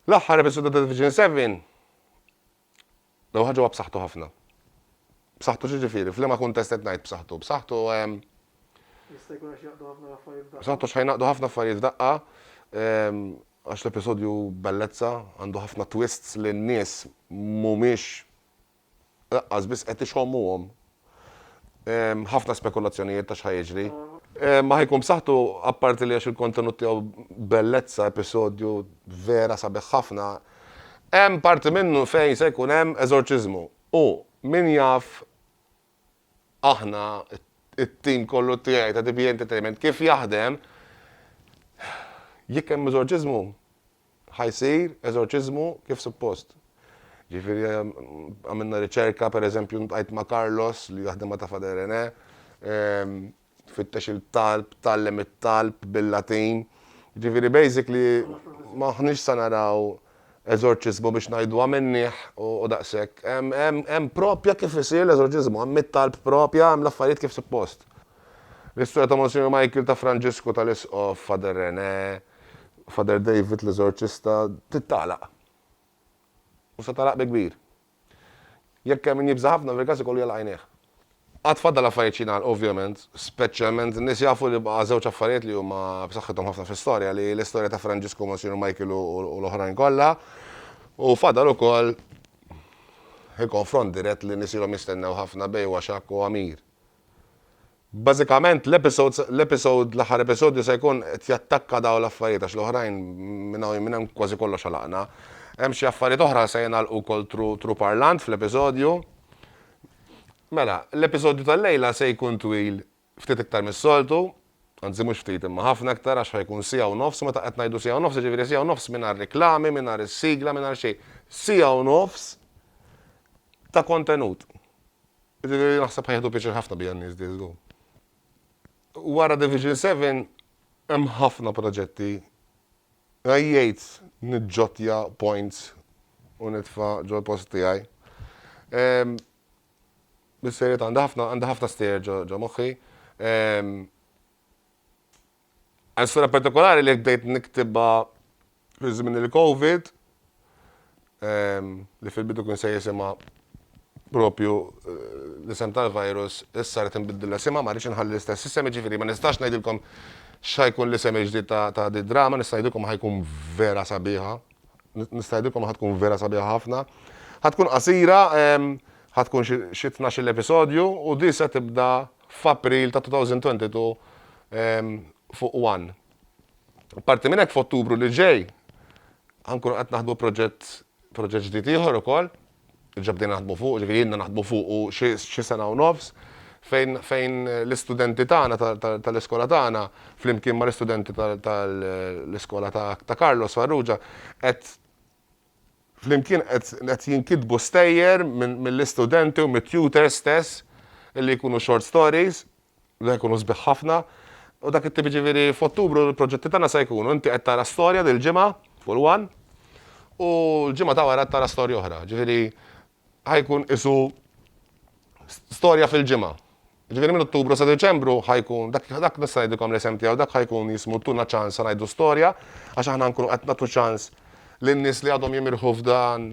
L-aħħar episodju ta' Division 7 l ħaġa huwa b'saħħtu ħafna. B'saħħtu ġiġifieri, f'liema kuntest qed ngħid b'saħħtu. B'saħħtu ehm, Jista' jkun għax jaqdu ħafna affarijiet f'daqqa. B'saħħtu x'ħaj naqdu ħafna affarijiet f'daqqa ehm, għax l-episodju bellezza għandu ħafna twists li n-nies mhumiex Laqqas biss qed ixommuhom. Hemm ħafna spekulazzjonijiet ta' x'ħa jiġri. Ma ħa jkun b'saħħtu apparti li għax il-kontenut tiegħu bellezza, episodju vera sabiħ ħafna. Hemm parti minnu fejn se jkun hemm eżorċiżmu u min jaf Aħna, it-tim kollu tiegħi ta' DBA Entertainment kif jaħdem, jekk hemm eżorċiżmu, ħa jsir eżorċiżmu kif suppost. Ġifieri għamilna riċerka, pereżempju ntqajt ma' Carlos li jaħdem ma' Ta' Fader René, tfittex il-talb, tgħallem it-talb bil-Latin. Jiġifieri basically m'aħniex se naraw eżorċiżmu biex ngħidu għamilnieh u daqshekk. Hemm proprja kif isir l-eżorċiżmu, hemm it-talb proprja, hemm l-affarijiet kif suppost. L-istorja ta' Monsinjur Michael, ta' Franġisku, tal-Isqof, Father René, Father David l-eżorċista, titgħalaq. U se tagħlaq bi kbir. Jekk hemm min jibża' ħafna, fil-każ ikollu jagħlaq għajnejh. Għad fadal affarijiet x'jingħalqu ovvjament, speċjalment in-nies jafu li baqa' żewġ affarijiet li huma b'saħħithom ħafna fl-istorja, li hi l-istorja ta' Franġisku, Monsinjur Michael u l-oħrajn kollha, u fadal ukoll il-konfront dirett li nies ilhom jistennew ħafna bejn Waxak u Għamir. Bażikament l-episodes, l-episode, l-aħħar episodju se jkun qed jattakka dawn l-affarijiet għax l-oħrajn minn hawn minn hemm kważi kollox għalaqna. Hemm xi affarijiet oħra se jingħalqu wkoll through through parlant fl-episodju. Mela, l-episodju tal-lejla se jkun twil ftit iktar mis-soltu, anzi mhux ftit imma ħafna iktar għax ħa jkun siegħa u nofs, meta qed ngħidu siegħa u nofs jiġifieri siegħa u nofs mingħajr riklami, mingħajr is-sigla, mingħajr xejn. Siegħa u nofs ta' kontenut. Naħseb ħa jieħdu pjaċir ħafna bija n-nies di żgur. Wara Division Seven hemm ħafna proġetti. Għajjejt niġġottja points u nitfa' ġol-post tiegħi. Bis-serjetà għandi ħafna għandi ħafna stejjer ġo moħħi. Persuna partikolari li bdejt niktibha fi żmien il-Covid, li fil-bidu kien se jisimha proprju l-isem tal-virus, issa rrid inbiddilha isimha, ma rridx inħalli l-istess isem, jiġifieri ma nistax ngħidilkom x'ħa jkun l-isem il-ġdid ta' din id-drama, nista' ngħidilkom ħa jkun vera sabiħa, nista' ngħidilkom ħa tkun vera sabiħa ħafna. Ħa tkun qasira, ħa tkun xi tnax-il episodju u din se tibda f'April ta' 2022 fuq one. Apparti minn hekk f'Ottubru li ġej ħa nkunu qed naħdmu proġett proġett ġdid ieħor ukoll, diġà bdejna naħdmu fuqu, jiġifieri ilna naħdmu fuqu xi xi sena u nofs, fejn fejn l-istudenti tagħna ta' ta' tal-iskola tagħna flimkien mal-istudenti ta' tal-iskola ta' ta' Carlos Farrugia qed Flimkien qed qed jinkitbu stejjer minn mill-istudenti u mit-tutors stess li jkunu short stories li jkunu sbieħ ħafna u dak it-tip jiġifieri f'Ottubru l-proġetti tagħna se jkunu inti qed tara storja dil-ġimgħa full one u l-ġimgħa ta' wara qed tara storja oħra jiġifieri ħa jkun qisu storja fil-ġimgħa. Ġifieri minn Ottubru sa Diċembru ħa jkun dak dak nista' ngħidilkom l-isem tiegħu dak ħa jkun jismu Tuna ċans ngħidu storja għax aħna nkunu qed nagħtu ċans lin-nies li għadhom jimirħu f'dan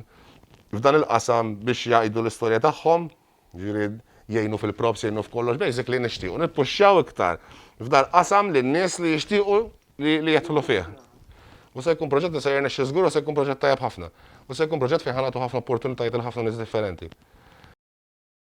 f'dan il-qasam biex jgħidu l-istorja tagħhom, ġifieri jgħinu fil-props, jgħinu f'kollox, basically nixtiequ nippuxxjaw iktar f'dal-qasam lin-nies li jixtiequ li jidħlu fih. U se jkun proġett li se jirnexxi żgur u se jkun proġett tajjeb ħafna. U se jkun proġett fejn ħa nagħtu ħafna opportunitajiet lil ħafna nies differenti.